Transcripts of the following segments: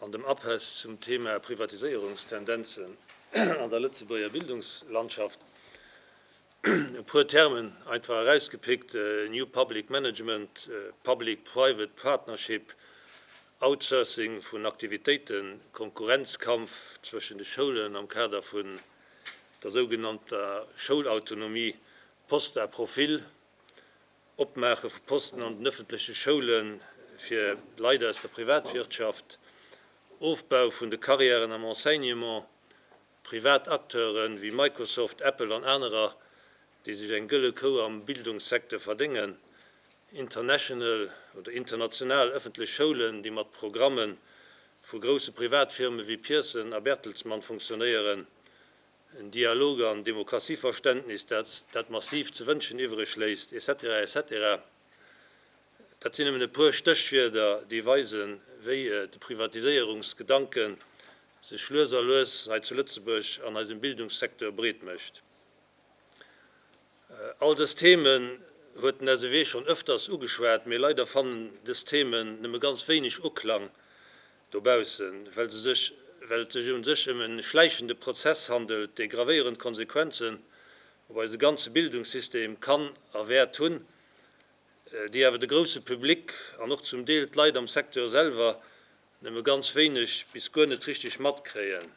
An dem Uphass zum Thema Privatiséierungstendenzen an der Lëtzebuerger Bildungslandschaft e puer Termen einfach erausgepickt, New Public Management, Public-Private Partnership, Outsourcing vun Aktivitéiten, Konkurrenzkampf zwëschen de Schoulen am Kader vun der sougenannter Schoulautonomie, Post à profil, Opmaache vu Posten an den ëffentleche Schoule fir Leit aus der Privatwirtschaft, Ofbau vun de Carrièren am Enseignement, privat Acteure wéi Microsoft, Apple an anerer, déi sech eng gëlle Kou am Bildungssecteur verdéngen, international oder international ëffentlech Schoulen, déi mat Programme vu grousse Privatfirme wéi Pearson a Bertelsmann funktionéieren, en Dialog an Demokratieverständnis, dat massiv ze wënschen iwwreg léisst, etc. Etc. Dat sinn nëmmen e puer Stéchwierder, déi weisen, wéi de Privatiséierungsgedanke sech lues a lues hei zu Lëtzebuerg an eisem Bildungssecteur breet mécht. All dës Themen huet den SEW schonn ëfters ugeschwat, mee leider fannen dës Themen nëmme ganz wéineg Uklang Dobaussen, well se sech, well et sech un sech ëm e schläichende Prozess handelt, dee gravéierend Konsequenzen op eise ganze Bildungssystem kann a wäert hunn, déi awer de grousse Public an och zum Deel d'Leit am Secteur selwer nëmme ganz wéineg bis guer net richteg matkréien,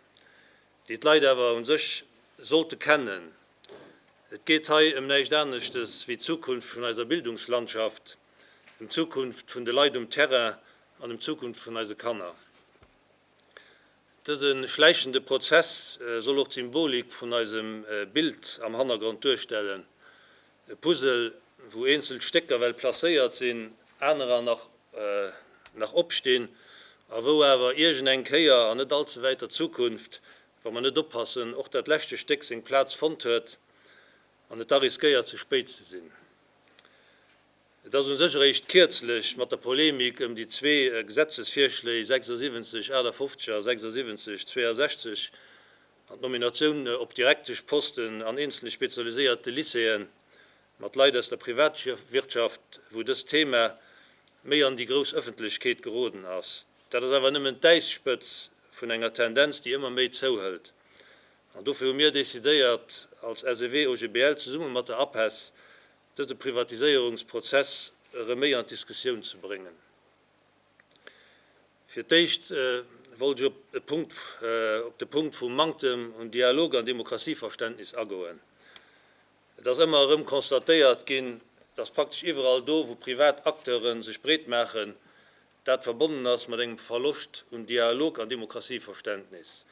déi d'Leit awer un sech sollte kennen. Et geet hei ëm näischt aneschtes wéi d'Zukunft vun eiser Bildungslandschaft. ëm d'Zukunft vun de Leit um Terrain an ëm d'Zukunft vun eise Kanner. Dëse schläichende Prozess soll och d'Symbolik vun eisem Bild am Hannergrond duerstellen, e Puzzle, wou eenzel Stécker well placéiert sinn, anerer nach opstinn a wou awer iergend eng Kéier an net all ze wäiter Zukunft, wa mer net oppassen, och dat leschte Stéck seng Plaz fonnt huet an et da riskéiert ze spéit ze sinn. Et ass u sech eréischt kierzlech mat der Polemik ëm déi zwee Gesetzesvirschléi 76 58 a 76 62 an d'Nominatioun op direktesch Posten an eenzele spezialiséierte Lycéeën mat Leit aus der Privatwirtschaft, wou dëst Thema méi an déi grouss Ëffentlechkeet geroden ass. Dat ass awer nëmmen d'Äisspëtz vun enger Tendenz, déi ëmmer méi zouhëlt. An dofir hu mir decidéiert, als SEW-OGBL zesumme mat der APESS, dëse Privatiséierungsprozess erëm méi an d'Diskussioun ze bréngen. Fir d'éischt wollt ech op e Punkt, op de Punkt vum Manktem un Dialog an Demokratieverständnis agoen. Et ass ëmmer erëm constatéiert ginn, dass praktesch iwwerall do, wou privat Acteure sech breetmaachen, dat verbonnen ass mat engem Verloscht un Dialog an Demokratieverständnis,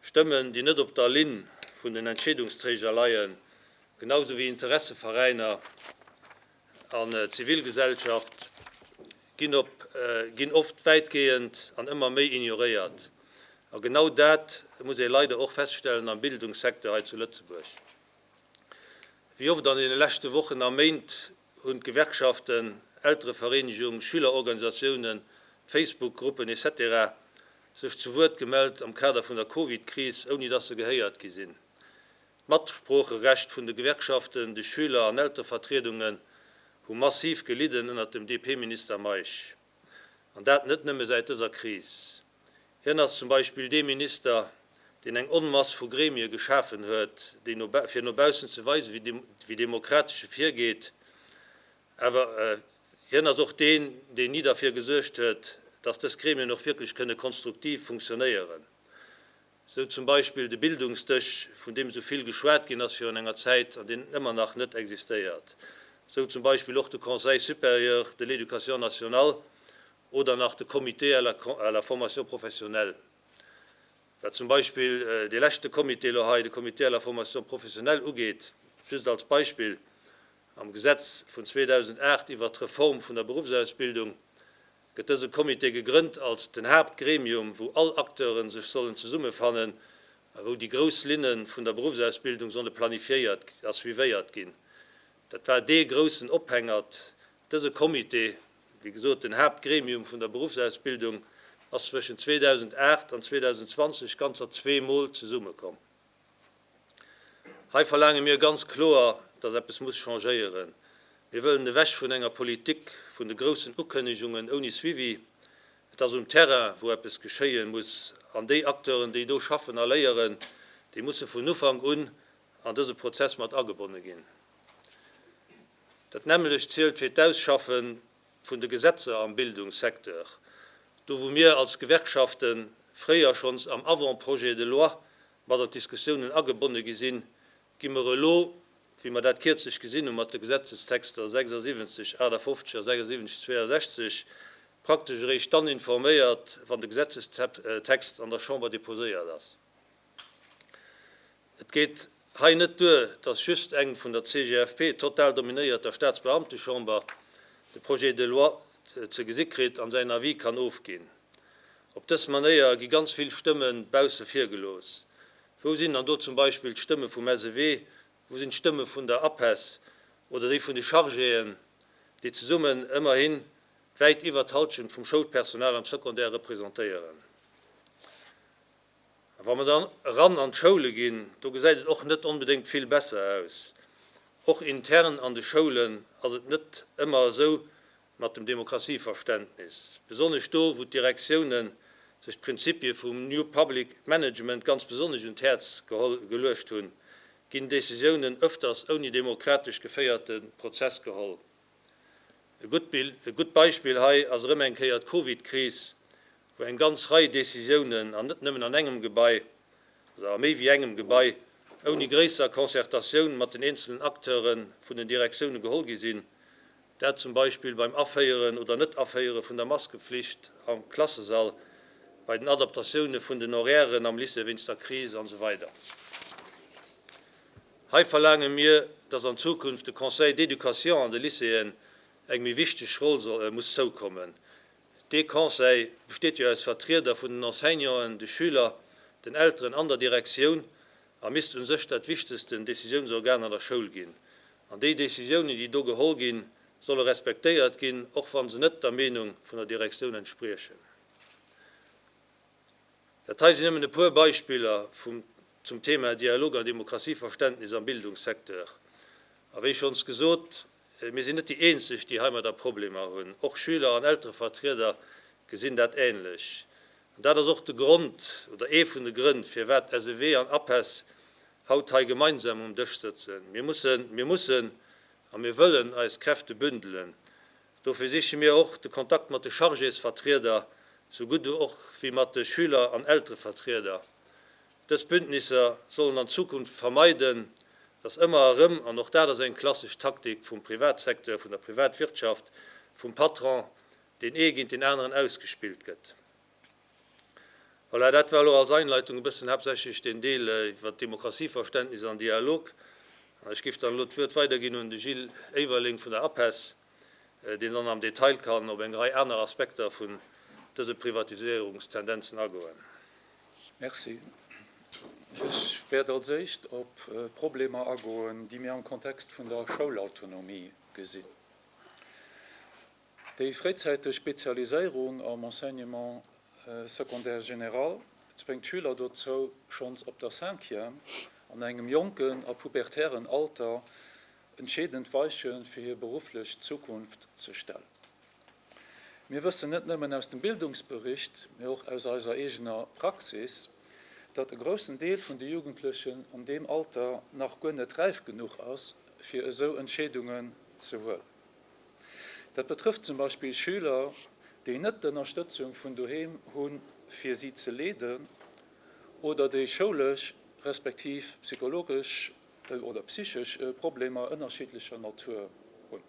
Stëmmen, déi net op der Linn vun den Entscheedungsträger leien, genau esou wéi Interesseveräiner an d'Zivilgesellschaft, ginn oft wäitgehend an ëmmer méi ignoréiert. A genau dat muss ee leider och feststellen am Bildungssecteur hei zu Lëtzebuerg. Wéi oft an deene leschte Wochen a Méint hunn d'Gewerkschaften, Elterevereenegung, Schülerorganisatiounen, Facebook-Gruppen, etc. Sech zu Wuert gemellt am Kader vun der Covid-Kris, ouni dass se gehéiert gi sinn. D'Matsproocherecht vun de Gewerkschaften, de Schüler an Elterevertriedungen hu massiv gelidden ënnert dem DP-Minister Meisch. An dat net nëmme säit dëser Kris. Hien ass zum Beispill dee Minister, deen eng Onmass vu Gremie geschafen huet, déi no fir no baussen ze weisen, wéi demokratesch e virgeet. Awer hien ass och deen, deen ni derfir gesuergt huet, dass dës Gremien och wierklech kënne konstruktiv funktionéieren. Sou zum Beispill de Bildungsdësch, vun deem esou vill geschwat ginn ass virun enger Zäit an deen ëmmer nach net existéiert. Sou zum Beispill och de Conseil supérieur de l'éducation nationale oder nach de Comité à la formation professionnelle. Wat zum Beispill dee leschte Comité elo hei, de Comité à la formation professionnelle ugeet, just als Beispill, Am Gesetz vun 2008 iwwert d'Reform vun der Berufsausbildung gëtt dëse Comité gegrënnt als den Haaptgremium, wou all Acteure sech sollen zesummefannen a wou déi grouss Linne vun der Beruffsausbildung solle planifiéiert a suivéiert ginn. Dat war dee groussen Ophängert. Dëse Comité, wéi gesot den Haaptgremium vun der Beruffsausbildung, ass zwëschen 2008 an 2020 ganzer zweemol zesummekomm. Hei verlaange mir ganz kloer, dass eppes muss changéieren. Mir wëllen ewech vun enger Politik vun de groussen Ukënnegungen ouni Suivi. Et ass um Terrain, wou eppes geschéie muss. An déi Acteuren, déi do schaffen a léieren, déi musse vun Ufank un an dëse Prozess mat agebonne ginn. Dat nämmlecht zielt fir d'Ausschaffen vun de Gesetzer am Bildungssecteur, do wou mir als Gewerkschafte fréier schonns am Avant-projet de loi mat an d'Diskussiounen agebonne gi sinn, gi mer elo, wéi mer dat kierzlech gesinn hu mat de Gesetzestexter 76, 58 a 76, 62, praktesch eréischt dann informéiert, wann de Gesetzestext an der Chamber deposéiert ass. Et geet hei net duer, dass just eng vun der CGFP total dominéierter Staatsbeamtechamber de Projet de loi ze gesi kritt an säin Avis kann ofginn. Op dës Manéier gi ganz vill Stëmme bausse vir gelooss. Wou sinn dann do zum Beispill d'Stëmme vum SEW, wou sinn d'Stëmme vun der APESS oder déi vun de Chargéen, déi zesummen ëmmerhi wäit iwwer d'Halschent vum Schoulpersonal am Secondaire representéieren? A wa mer dann eran an d'Schoule ginn, do gesäit et och net onbedéngt vill besser aus. Och intern an de Schoulen ass et net ëmmer esou mat dem Demokratieverständnis, besonnesch do, wou d'Direktiounen sech d'Prinzipie vum New Public Management ganz besonnesch un d'Häerz geluecht hunn, ginn Decisiounen ëfters ouni demokratesch geféierte Prozess geholl. E gutt Beispill hei ass erëm eng Kéier d'Covid-Kris, wou eng ganz Rei Décisiounen, an net nëmmen an engem Gebai, also a méi wéi engem Gebai, ouni gréisser Concertatioun mat den eenzelnen Acteure vun den Direktioune geholl gi sinn, dat zum Beispill beim Aféieren oder Net-Aféiere vun der Maskepflicht am Klassesall, bei den Adaptatioune vun den Horairen am Lycée wéinst der Kris an esou weider. Hei verlaange mir, dass an Zukunft de Conseil d'éducation an de Lycéeën eng méi wichteg Roll muss zoukommen, Dee Conseil besteet jo aus Vertrieder vun den Enseignanten, de Schüler, den Elteren an der Direktioun a misst u sech dat wichtegsten Decisiounsorgan an der Schoul ginn. An déi Decisiounen, déi do geholl ginn, solle respektéiert ginn, och wa se net der Meenung vun der Direktioun entspriechen. Dat hei sinn nëmmen e puer Beispiller vum zum Thema Dialog an Demokratieverständnis am Bildungssecteur. A wéi schonns gesot, Mir sinn net déi eenzeg, déi heimadder Problemer hunn. Och Schüler an Elterevertrieder gesinn dat änlech. An dat ass och de Grond, oder ee vun de Grënn, firwat SEW an APESS haut hei gemeinsam um Dësch sëtzen. Mir mussen, mir mussen a mir wëllen eis Kräfte bündelen. Dofir siche mir och de Kontakt mat de Chargésvertrieder, sou gutt och wéi mat de Schüler an Elterevertrieder. Dës Bündnisser sollen an Zukunft vermeiden, datt ëmmer erëm, an och dat ass eng klassesch Taktik vum Privatsecteur, vun der Privatwirtschaft, vum Patron, deen ee géint deen aneren ausgespillt gëtt. Voilà, dat war elo als Einleitung e bëssen haaptsächlech deen Deel iwwert d'Demokratie-Verständnis an Dialog. Ech géif dann elo d'Wuert weiderginn un de Gilles Éiwerleng vun der APESS. deen dann am Detail kann op eng Rei aner Aspekter vun dëse Privatiséierungstendenzen agoen. Merci. Ech wäert als éischt op Problemer agoen, déi mir am Kontext vun der Schoulautonomie gesinn. Déi fréizäiteg Spezialiséierung am Enseignement secondaire général zwéngt d'Schüler dozou, schonns op der Cinquième, an engem jonken a pubertären Alter, entscheedend Weiche fir hir berufflech Zukunft ze stellen. Mir wëssen net nëmmen aus dem Bildungsbericht, mee och aus eiser eegener Praxis, datt e groussen Deel vun de Jugendlechen an deem Alter nach guer net räif genuch ass, fir esou Entscheedungen ze huelen. Dat betrëfft zum Beispill Schüler, déi net d'Ënnerstëtzung vun doheem hu fir si ze leeden oder déi schoulesch respektiv psychologesch oder psychesch Problemer ënnerschiddlecher Natur hunn.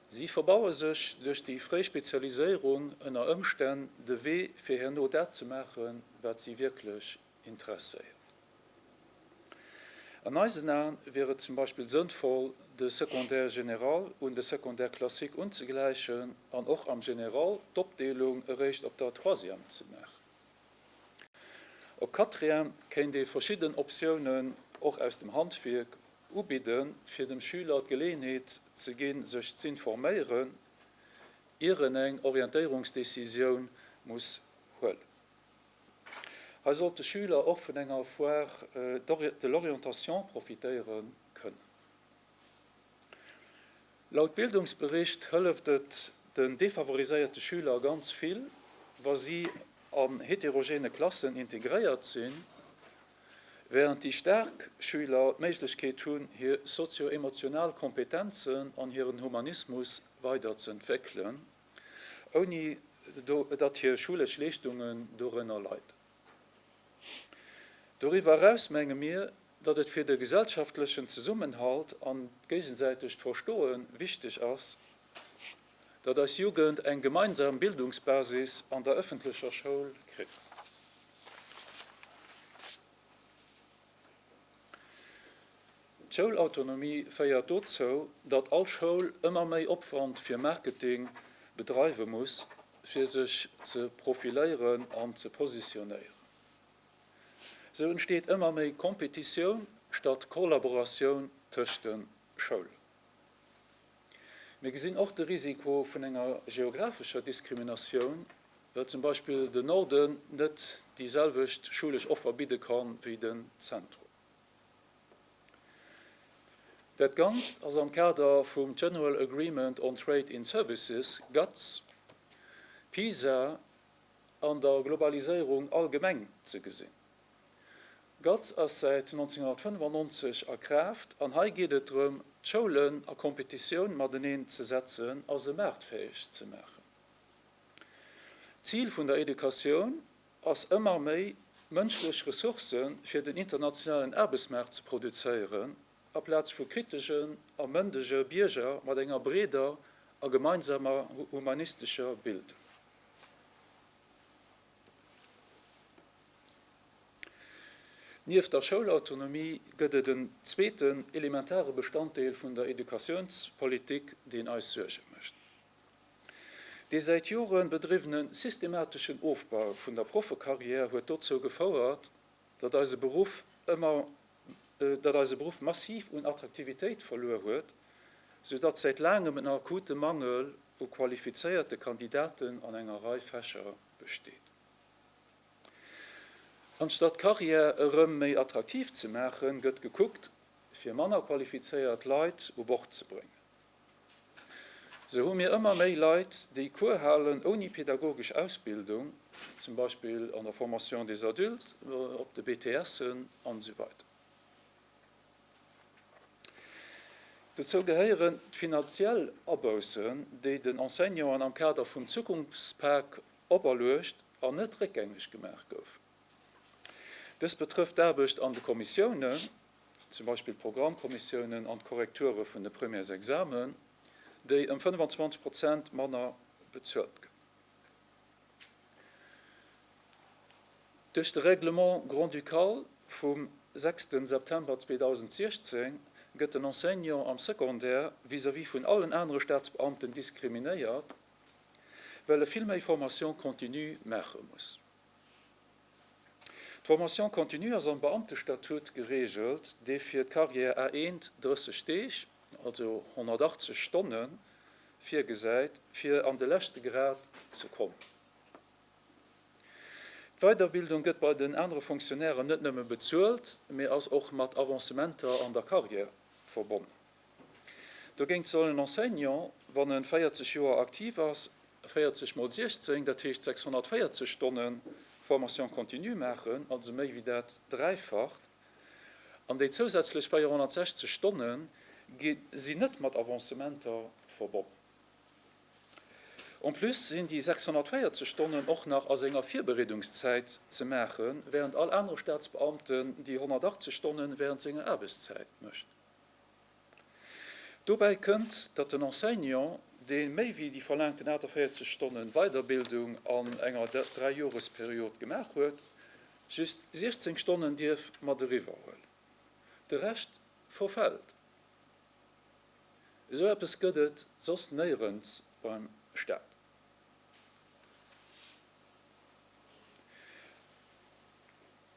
Si verbaue sech duerch déi fréi Spezialiséierung ënner Ëmstänn de Wee fir herno dat ze maachen, wat si wierklech interesséiert. An eisen Aen wier et zum Beispill sënnvoll, de Secondaire général un de Secondaire classique unzegläichen an och am Général d'Opdeelung eréischt op der Troisième ze maachen. Op Catrien kéint ee verschidden Optiounen, och aus dem Handwierk, ubidden, fir dem Schüler d'Geleeënheet ze ginn, sech z'informéieren, ier en eng Orientéierungsdecisioun muss huelen. Hei sollt de Schüler och vun enger Foire de l'orientation profitéiere kënnen. Laut Bildungsbericht hëlleft et den defavoriséierte Schüler ganz vill, wa si an heterogene Klassen integréiert sinn, während déi staark Schüler d'Méiglechkeet hunn, hir sozio-emotional Kompetenzen an hiren Humanismus weiderz'entwéckelen, ouni datt hir schulesch Leeschtungen dorënner leiden. Doriwwer eraus menge mir, datt et fir de gesellschaftlechen Zesummenhalt an d'géigesäitegt Verstoe wichteg ass, datt eis Jugend eng gemeinsam Bildungsbasis an der ëffentlecher Schoul kritt. D'Schoulautonomie féiert dozou, datt all Schoul ëmmer méi Opwand fir Marketing bedreiwe muss, fir sech ze profiléieren an ze positionéieren. Sou entsteet ëmmer méi Kompetitioun statt Kollaboratioun tëscht de Schoulen. Mir gesinn och de Risiko vun enger geographescher Diskriminatioun, well zum Beispill den Norden net déi selwecht schulesch Offer bidde kann, wéi den Zentrum. Dat Ganzt ass am Kader vum General Agreement on Trade in Services, GATS, PISA, an der Globaliséierung allgemeng ze gesinn. GATS ass säit 1995 a Kraaft an hei geet et drëm, d'Schoulen a Competitioun mateneen ze setzen a se maartfäeg ze maachen. D'Zil vun der Educatioun ass ëmmer méi mënschlech Ressourcë fir den internationalen Aarbechtsmaart ze produzéieren Aplaz vu kriteschen a mëndege Bierger mat enger breeder a gemeinsamer humanistescher Bild. Nieft der Schoulautonomie gëtt et en zweeten elementare Bestanddeel vun der Educatiounspolitik, deen eis Suerge mécht, Dee säit Jore bedriwwene systemateschen Ofbau vun der Proffekarriär huet dozou gefouert, Datt eise Beruff ëmmer, datt eise Beruff massiv un Attraktivitéit verluer huet, sou datt säit laangem en akute Mangel u qualifizéierte Kandidaten an enger Rei Fächer besteet. Anstatt d'Carrière erëm méi attraktiv ze maachen, gëtt gekuckt, fir manner qualifizéiert Leit u Bord ze bréngen. Sou hu mir ëmmer méi Leit, déi Cours halen ouni pedagogesch Ausbildung, zum Beispill an der Formation des adultes, op de BTSen an esou weider. Dozou gehéieren d'finanziell Aboussen, déi den Enseignanten am Kader vum Zukunftspak operluecht an net réckgängeg gemaach goufen. Dëst betrëfft d'Aarbecht an de Kommissiounen, zum Beispill d'Programmkommissiounen an d'Korrekture vun de Premièresexamen, déi ëm 25 Prozent manner bezuelt gëtt. Duerch de Règlement grand-ducal vum 6 September 2016 gëtt den Enseignant am Secondaire vis-à-vis vun allen anere Staatsbeamten diskriminéiert, well e vill méi Formation continue maache muss. D'Formation continue ass am Beamtestatut gereegelt, dee fir d'Carrière A 1 30 Deeg, also 180 Stonne virgesäit, fir an de leschte Grad ze kommen. D'Weiderbildung gëtt bei den anere Fonctionnairen net nëmme bezuelt, mee ass och mat Avancementer an der Carrière verbonnen. Dogéint soll en Enseignant, wann e 40 Joer aktiv ass, 40 mol 16, dat heescht 640 Stonne Formation continue maachen, also méi wéi dat Dräifacht. An déi zousätzlech 460 Stonne sinn net mat Avancementer verbonnen. En plus sinn déi 640 Stonnen och nach a senger Virbereedungszäit ze maachen, wärend all anere Staatsbeamten déi 180 Stonne wärend senger Aarbechtszäit mécht. Dobäi kënnt, datt den Enseignant, dee méi wéi déi verlaangten 48 Stonnen Weiderbildung an enger Dräijoresperiod gemaach huet, just 16 Stonnen dierf mat eriwwer huelen. De Rescht verfält. Esou eppes gëtt et soss néierens beim Staat.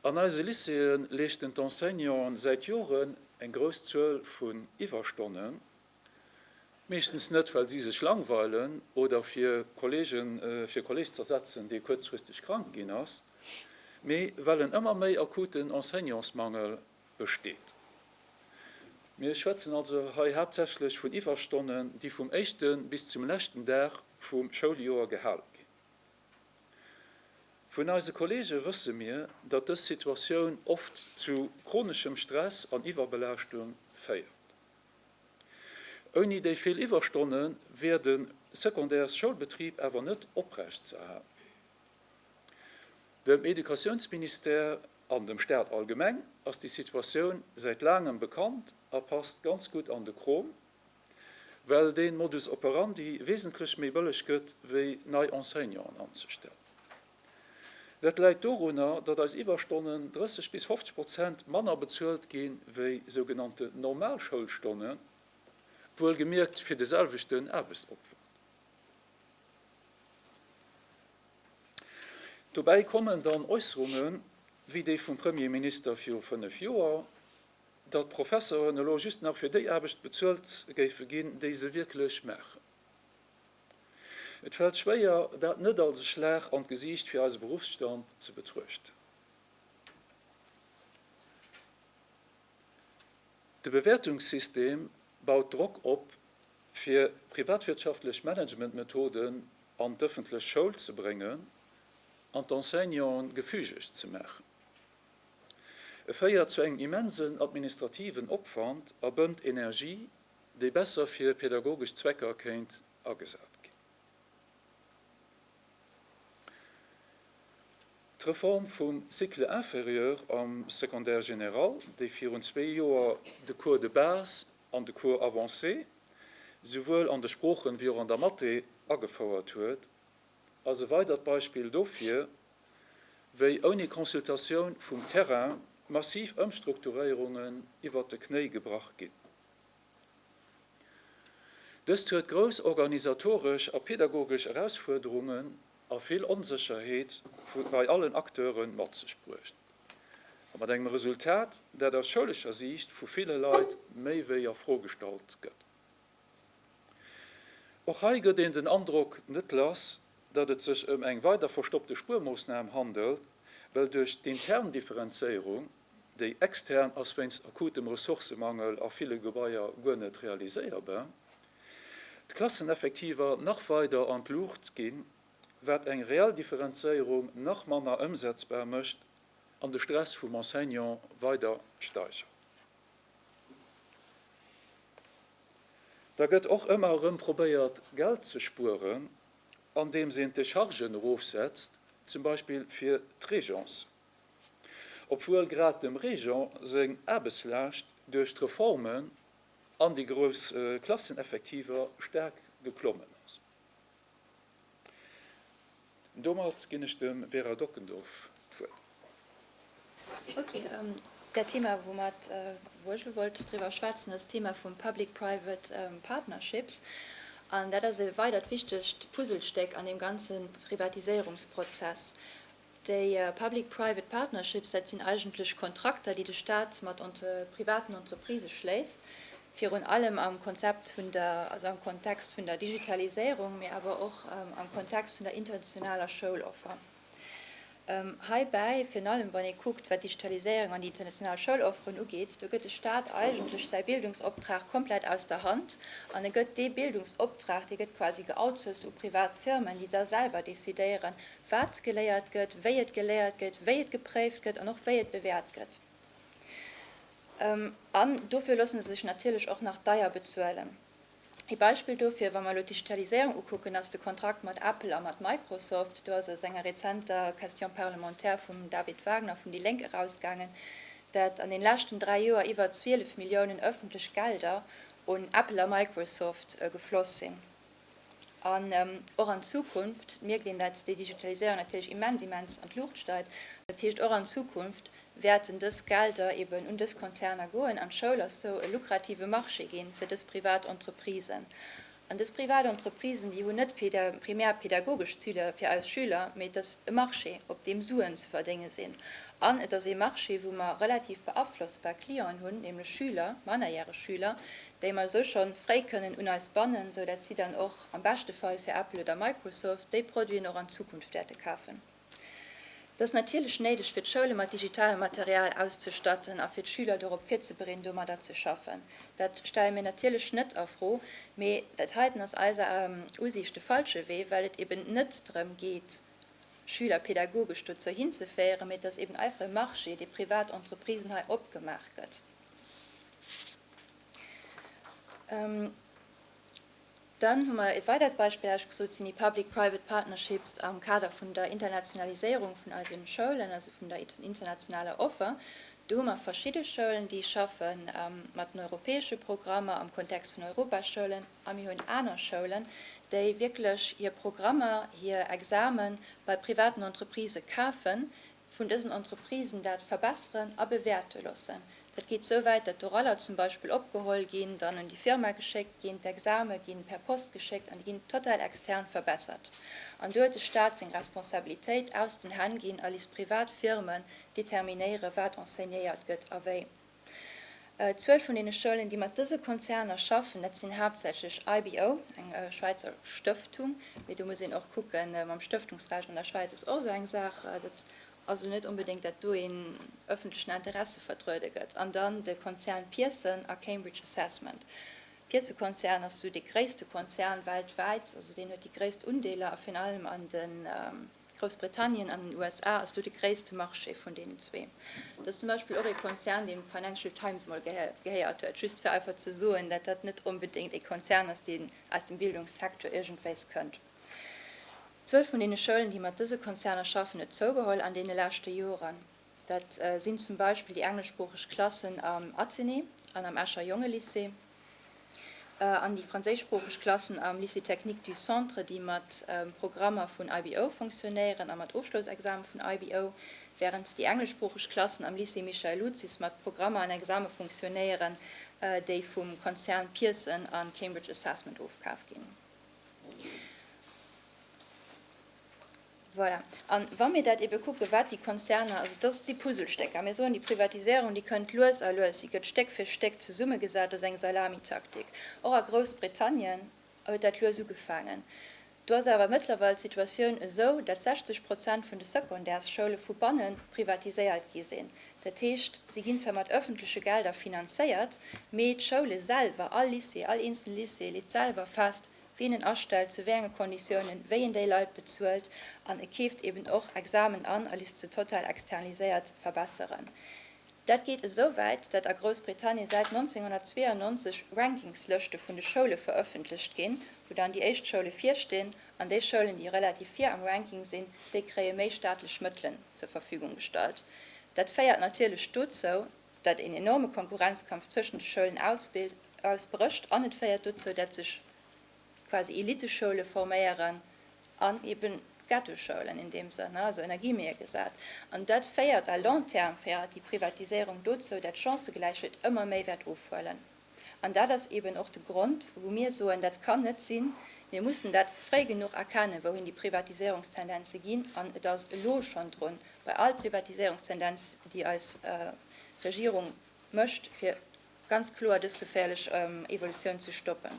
An eise Lycéeë leeschten d'Enseignanten säit Joren eng grouss Zuel vun Iwwerstonnen, meeschtens net, well si sech langweilen oder fir Kollegen fir Kolleg z'ersetzen, dee kuerzfristeg krank ginn ass, mee well en ëmmer méi akuten Enseignantsmangel besteet. Mir schwätzen also hei haaptsächlech vun Iwwerstonnen, déi vum éischte bis zum leschten Dag vum Schouljoer gehale ginn. Vun eise Kollege wësse mir, datt dës Situatioun oft zu chroneschem Stress an Iwwerbelaaschtung féiert. Ouni déi vill Iwwerstonne wier de secondaires Schoulbetrib awer net oprecht ze erhalen. Dem Educatiounsministère an dem Staat allgemeng ass déi Situatioun säit laangem bekannt a passt ganz gutt an de Krom, well dee Modus operandi wesentlech méi bëlleg gëtt wéi nei Enseignanten anzestellen. Dat läit dorunner, datt eis Iwwerstonnen 30 bis 50 Prozent manner bezuelt ginn, wéi sougenannte normal Schoulstonnen, wuel gemierkt fir de selwechten Aarbechtsopwand. Dobäi kommen dann Äusserungen, wéi déi vum Premierminister viru fënnef Joer, datt d'Professoren elo just nach fir déi Aarbecht bezuelt géife ginn, déi se wierklech maachen. Et fält schwéier, dat net als e Schlag an d'Gesiicht fir eise Beruffsstand ze betruechten. De Bewäertungssystem baut Drock op, fir privatwirtschaftlech Managementmethoden an d'ëffentlech Schoul ze bréngen an d'Enseignanten gefügeg ze maachen. E féiert zu engem immensen administrativen Opwand a bënnt Energie, déi besser fir pedagogesch Zwecker kéint agesat ginn. D'Reform vum Cycle inférieur am Secondaire général, déi virun zwee Joer de Cours de base an de Cours avancé souwuel an de Sproochen wéi och an der Mathé agefouert huet, ass e weidert Beispill dofir, wéi ouni Consultatioun vum Terrain massiv Ëmstrukturéierungen iwwert de Knéi gebrach ginn. Dëst huet grouss organisatoresch a pedagogesch Erausfuerderungen a vill Onsécherheet bei allen Acteure mat sech bruecht, mat engem Resultat, dat aus schoulescher Siicht vu ville Leit méi wéi a Fro gestallt gëtt. Och hei gëtt een den Androck net lass, datt et sech ëm eng weider verstoppte Spuermoossnam handelt, well duerch d'intern Differenzéierung, déi extern ass wéinst akutem Ressourcemangel a ville Gebaier guer net realiséierbar, d'Klasseneffektiver nach weider an d'Luucht ginn, wat eng reell Differenzéierung nach manner ëmsetzbar mécht an de Stress vum Enseignant weider steigert. Da gëtt och ëmmer erëm probéiert, Geld ze spueren, andeems een d'Dechargen erofsetzt, zum Beispill fir d'Régence. Obwuel grad dem Régent seng Aarbechtslaascht duerch d'Reformen an déi grouss Klasseneffektiver staark geklommen ass. Domat ginn ech dem Vera Dockendorf d'Wuert. Ok, dat Thema, woumat, wou ech elo wollt driwwer schwätzen, ass d'Thema vu public-private partnerships. An dat ass e weidert wichtegt Puzzlestéck an deem ganze Privatiséierungsprozess. Déi Public Private Partnerships, dat sinn eigentlech Kontrakter, déi de Staat mat privaten Entreprisë schléisst, virun allem am Konzept vun der, also am Kontext vun der Digitaliséierung, mee awer och am Kontext vun der internationaler Schouloffer. Heibäi, virun allem wann ee kuckt, wat d'Digitaliséierung an déi international Schoulofferen ugeet, do gëtt de Staat eigentlech säi Bildungsoptrag komplett aus der Hand an e gëtt dee Bildungsoptrag, dee gëtt quasi geoutsourced u privat Firmen, déi da selwer decidéieren, wat geléiert gëtt, wéi et geléiert gëtt, wéi et gepréift gëtt an och wéi et bewäert gëtt. An dofir loosse se sech natierlech och nach deier bezuelen. Ee Beispill dofir, wa mer elo d'Digitaliséierung ukucken, ass de Kontrakt mat Apple a mat Microsoft. Do ass aus enger rezenter Question parlementaire vum David Wagner vun déi Lénk erausgaangen, dat an den leschten dräi Joer iwwer 12 Milliounen ëffentlech Gelder un Apple a Microsoft gefloss sinn. An och an Zukunft mierkt een, datt déi Digitaliséierung natierlech immens, immens an d'Luucht steigt. Dat heescht, och an Zukunft wäerten dës Gelder eben un dës Konzerner goen. An d'Schoul ass sou e lukrative Marché ginn fir dës privat Entreprisen. An dës privat Entreprisen, déi hunn net primär pedagogesch Zile fir eis Schüler, mee et ass e Marché, op deem Suen ze verdénge sinn. An et ass ee Marché, wou mer relativ beaflossbar Clienten hunn, nämlech Schüler, mannerjäreg Schüler, déi mer esou schonn fréi kënnen un eis bannen, esou dat si dann och am beschte Fall fir Apple oder Microsoft déi Produiten och an Zukunft wäerte kafen. Dat ass natierlech néideg fir d'Schoule mat digitalem Material auszestatten a fir d'Schüler dorop virzebereeden domadder ze schaffen. Dat stelle mir natierlech net a Fro, mee dat heiten ass eiser Usiicht de falsche Wee, well et eben net drëm geet Schüler pedagogesch dozou hinzeféieren, mee et ass eben einfach e Marché dee privat Entreprisen hei opgemaach gëtt. Dann hu mer e weidert Beispill ausgesucht, sinn déi public-private partnerships am Kader vun der Internationaliséierung vun eise Schoulen, also vun der internationaler Offer. Do hu mer verschidde Schoulen, déi schaffe mat den europäesche Programmer am Kontext vun Europaschoulen, a mir hunn aner Schoulen, déi wierklech hir Programmer, hir Examen bei privaten Entreprisë kafen, vun dësen Entreprisen dat verbesseren a bewäerte loossen. Dat geet esou wäit, datt d'Oraller zum Beispill opgeholl ginn, dann un déi Firma geschéckt ginn, d'Exame ginn per Post geschéckt an déi ginn total extern verbessert. An do huet de Staat seng Responsabilitéit aus den Hänn ginn a lisst privat Firmen determinéieren, wat enseignéiert gëtt a wéi. D'Zuel vun deene Schoulen, déi mat dëse Konzerner schaffen, dat sinn haaptsächlech IBO, eng Schwäizer Stëftung, mee do muss een och kucken, mam Stëftungsrecht an der Schwäiz ass och esou eng Saach, dat ass elo net onbedéngt, datt do een ëffentlechen Interesse vertruede gëtt, an dann de Konzern Pearson a Cambridge Assessment. D'Pearson-Konzern ass esou dee gréisste Konzern weltwäit, also deen huet déi gréisst Undeeler a virun allem an de. Groussbritannien an den USA ass do de gréisste Marché vun deenen zwee. Dat ass zum Beispill och ee Konzern, deem d'Financial Times emol gehéiert huet, just fir einfach ze soen, datt dat net onbedéngt ee Konzern ass, deen aus dem Bildungssecteur iergendwéis kënnt. D'Zuel vun deene Schoulen, déi mat dëse Konzerner schaffen, huet zougeholl an deene leschte Joren. Dat sinn zum Beispill déi engleschsproocheg Klassen am Athenée an am Escher Jongelycée an déi franséischsproocheg Klassen am Lycée technique du Centre, déi mat Programmer vun IBO funktionéieren a mat Ofschloussexame vun IBO, wärend déi engleschsproocheg Klassen am Lycée Michael Lucius mat Programmer an Exame funktionéieren, déi vum Konzern Pearson a Cambridge Assessment ofkaf ginn. Voilà. A wa mir dat ebe kucken, wat déi Konzerner, also et ass déi Puzzlestécker, mir soen, déi Privatisierung, déi kënnt lues a lues, si gëtt Stéck fir Stéck zesummegesat, dat ass eng Salamitaktik. Och a Groussbritannien huet dat lues ugefaangen. Do ass awer mëttlerweil d'Situatioun esou, datt 60 Prozent vun de Secondaires-Schoule vu banne privatiséiert gi sinn. Dat heescht, se ginn zwar mat ëffentleche Gelder finanzéiert, mee d'Schoule selwer, all Lycée, all eenzele Lycée leet selwer fest, wien en astellt, zu wéi enge Konditiounen, wéi een déi Leit bezuelt an e keeft eben och Examen an a lisst se total externaliséiert verbesseren. Dat geet esou wäit, dat a Groussbritannien säit 1992 Rankingslëschte vun de Schoule verëffentlecht ginn, wou dann déi éischt Schoule virstinn an déi Schoulen, déi relativ vir am Ranking sinn, déi kréie méi staatlech Mëttelen zur Verfügung gestallt. Dat féiert natierlech dozou, dat een enorme Konkurrenzkampf tëschent de Schoulen ausbrécht an et féiert dozou, dat sech quasi Eliteschoule forméieren an eben Ghettoschoulen in deem Sënn, also ënner Guillemete gesat. An dat féiert à long terme, féiert déi Privatiséierung dozou, dat d'Chancëgläichheet ëmmer méi wäert ofhuelen. An dat ass eeben och de Grond, wou mir soen, dat kann net sinn. Mir mussen dat fréi genuch erkennen, wouhin déi Privatiséierungstendenze ginn. An et ass elo schonn drun, bei all Privatiséierungstendenz, déi eis Regierung mécht, fir ganz kloer dës geféierlech Evolutioun ze stoppen.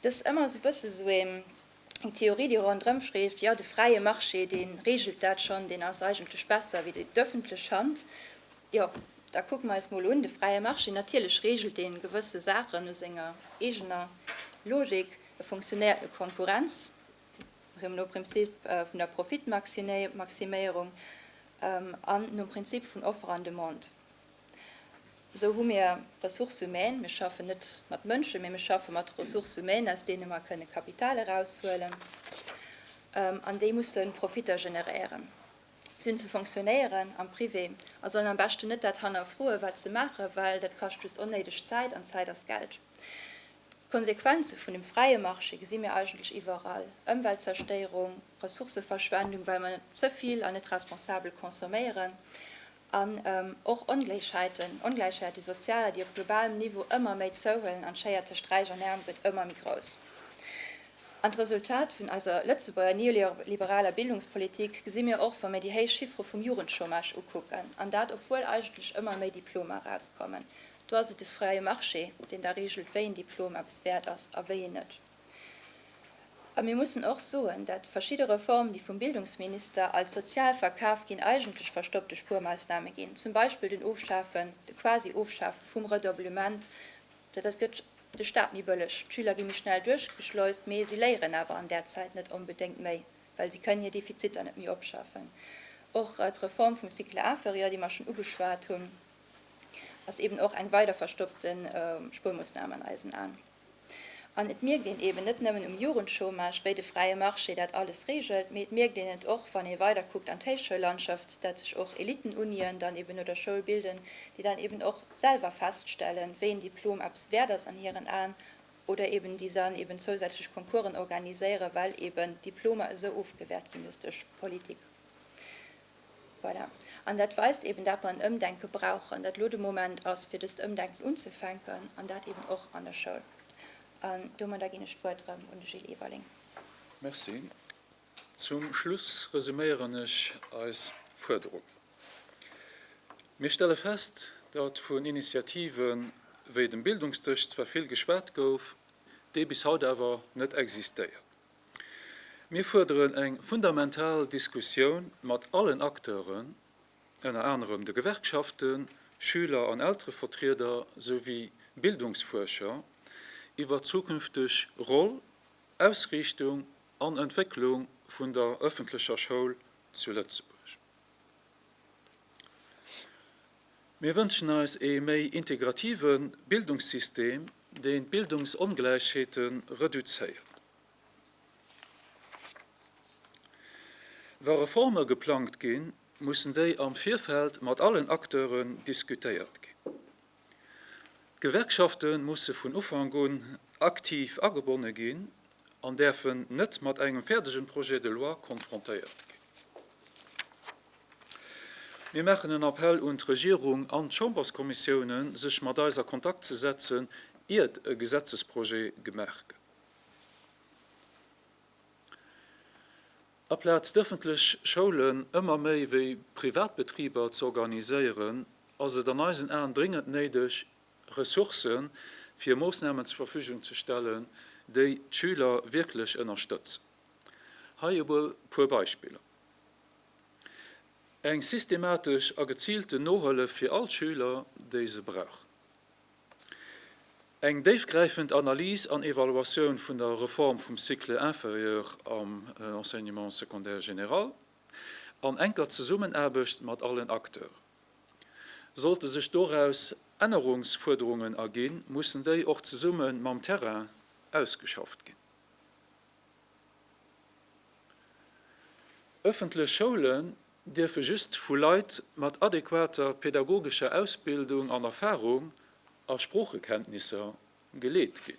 Dat ass ëmmer esou e bësse sou eng Theorie, déi ronderëm schweeft, Jo, de fräie Marché, dee reegelt dat schonn, deen ass eigentlech besser wéi d'ëffentlech Hand. Jo, da kucke mer eis mol un, de fräie Marché, natierlech reegelt deen gewësse Saachen no senger eegener Logik. E funktionéiert no Konkurrenz, nom Prinzip vun der Profitmaximéierung an nom Prinzip vun Offer an Demande. Esou hu mir Ressources humaines, mir schaffen net mat Mënschen, mee mir schaffe mat Ressources humaines, aus deene mer kënne Kapital eraushuelen, an déi musse Profitter generéieren. Si hunn ze fonctionnéieren am Privé a sollen am beschten net dat hannerfroen, wat se maachen, well dat kascht just onnéideg Zäit, an Zäit ass Geld. D'Konsequenze vun dem fräie Marché gesi mir eigentlech iwwerall, Ëmweltzerstéierung, Ressourcëverschwendung, well mer ze vill an net responsabel consomméieren, An och Ongléichheiten, Ongläichheit, déi sozial, déi op globalem Niveau ëmmer méi zouhuelen an d'Schéier tëscht Räich an Äerm gëtt ëmmer méi grouss. An d'Resultat vun eiser Lëtzebuerger neoliberaler Bildungspolitik gesi mir och, wa mir déi héich Chiffere vum Jugendchômage ukucken, an dat obwuel eigentlech ëmmer méi Diplomer erauskommen. Do ass et de fräie Marché, deen da reegelt, wéi een Diplom eppes wäert ass a wéi een net. A mir mussen och soen, datt verschidde Reformen, déi vum Bildungsminister als sozial verkaf ginn, eigentlech verstoppte Spuermausname ginn, zum Beispill den Ofschafen, de quasi Ofschafe vum Redoublement, dat dat gëtt de Stat méi bëlleg, d'Schüler gi méi schnell duerchgeschleust, mee si léieren awer an där Zäit net onbedéngt méi, well si kënnen hir Defiziter net méi opschaffen. Och d'Reform vum Cycle inférieur, déi mer schonn ugeschwat hunn, ass eeben och eng weider verstoppte Spuermoosnam an eisen Aen. An et mierkt een eben net nëmmen um Jugendchômage, wéi de fräie Marché dat alles regelt, mee et mierkt een et och, wann ee weider kuckt an d'Héichschoullandschaft, datt sech och Elitenunien dann eben no der Schoul bilden, déi dann eben och selwer feststellen, wéi en Diplom eppes wäert ass an hiren Aen, oder eben déi dann eben zousätzlech Concoursen organiséieren, well eben d'Diplomer esou ofgewäert ginn duerch d'Politik. Voilà. An dat weist eben, dat mer en Ëmdenke brauchen, dat elo de Moment ass, fir dëst Ëmdenken unzufänken, an dat eben och an der Schoul. An domadder ginn ech d'Wuert erëm un de Gilles Everling. Merci. Zum Schluss resüméieren ech eis Fuerderung. Mir stelle fest, datt vun Initiative wéi dem Bildungsdësch zwar vill geschwat gouf, dee bis haut awer net existéiert. Mir fuerderen eng fundamental Diskussioun mat allen Acteuren, ënner anerem de Gewerkschaften, Schüler an Elterevertrieder souwéi Bildungsfuerscher, iwwer d'zukünfteg Roll, Ausriichtung an Entwécklung vun der ëffentlecher Schoul zu Lëtzebuerg. Mir wënschen eis ee méi integrative Bildungssystem, deen d'Bildungsongläichheete reduzéiert. Wa Reforme geplangt ginn, mussen déi am Virfeld mat allen Acteure diskutéiert ginn. D'Gewerkschafte musse vun Ufank un aktiv agebonne ginn an däerfen net mat engem fäerdegen Projet de loi konfrontéiert ginn. Mir maachen en Appell un d'Regierung an d'Chamberskommissiounen, sech mat eis a Kontakt ze setzen, iert e Gesetzesprojet gemaach gëtt. Aplaz d'ëffentlech Schoulen ëmmer méi wéi Privatbetriber z'organiséieren, ass et an eisen Aen dringend néideg, Ressourcë fir Moossnamen zur Verfügung ze stellen, déi d'Schüler wierklech ënnerstëtzen. Hei e puer Beispiller, Eng systematesch a geziilte Nohëllef fir all Schüler, déi se brauchen. Eng déifgräifend Analys an Evaluatioun vun der Reform vum Cycle inférieur am Enseignement secondaire général an enker Zesummenaarbecht mat allen Acteurs. Sollte sech doraus Ännerungsfuerderungen erginn, mussen déi och zesumme mam Terrain ausgeschafft ginn. Ëffentlech Schoule dierfe just vu Leit mat adequater pädagogescher Ausbildung an Erfahrung a Sproochekenntnisser geleet ginn.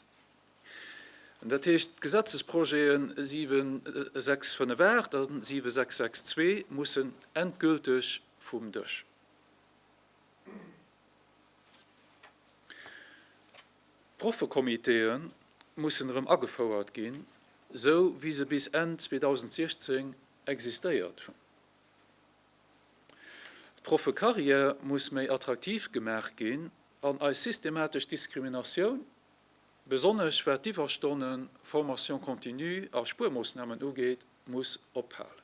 Dat heescht, d'Gesetzesprojete 7658 a 7662 mussen endgülteg vum Dësch. D'Proffekomiteeë mussen erëm agefouert ginn, esou wéi se bis Enn 2016 Existéiert hunn. D'Proffecarrière muss méi attraktiv gemaach ginn an eis systematesch Diskriminatioun, besonnesch wat d'Iwwerstonnen, Formation continue a Spuermoossnamen ugeet, muss ophalen.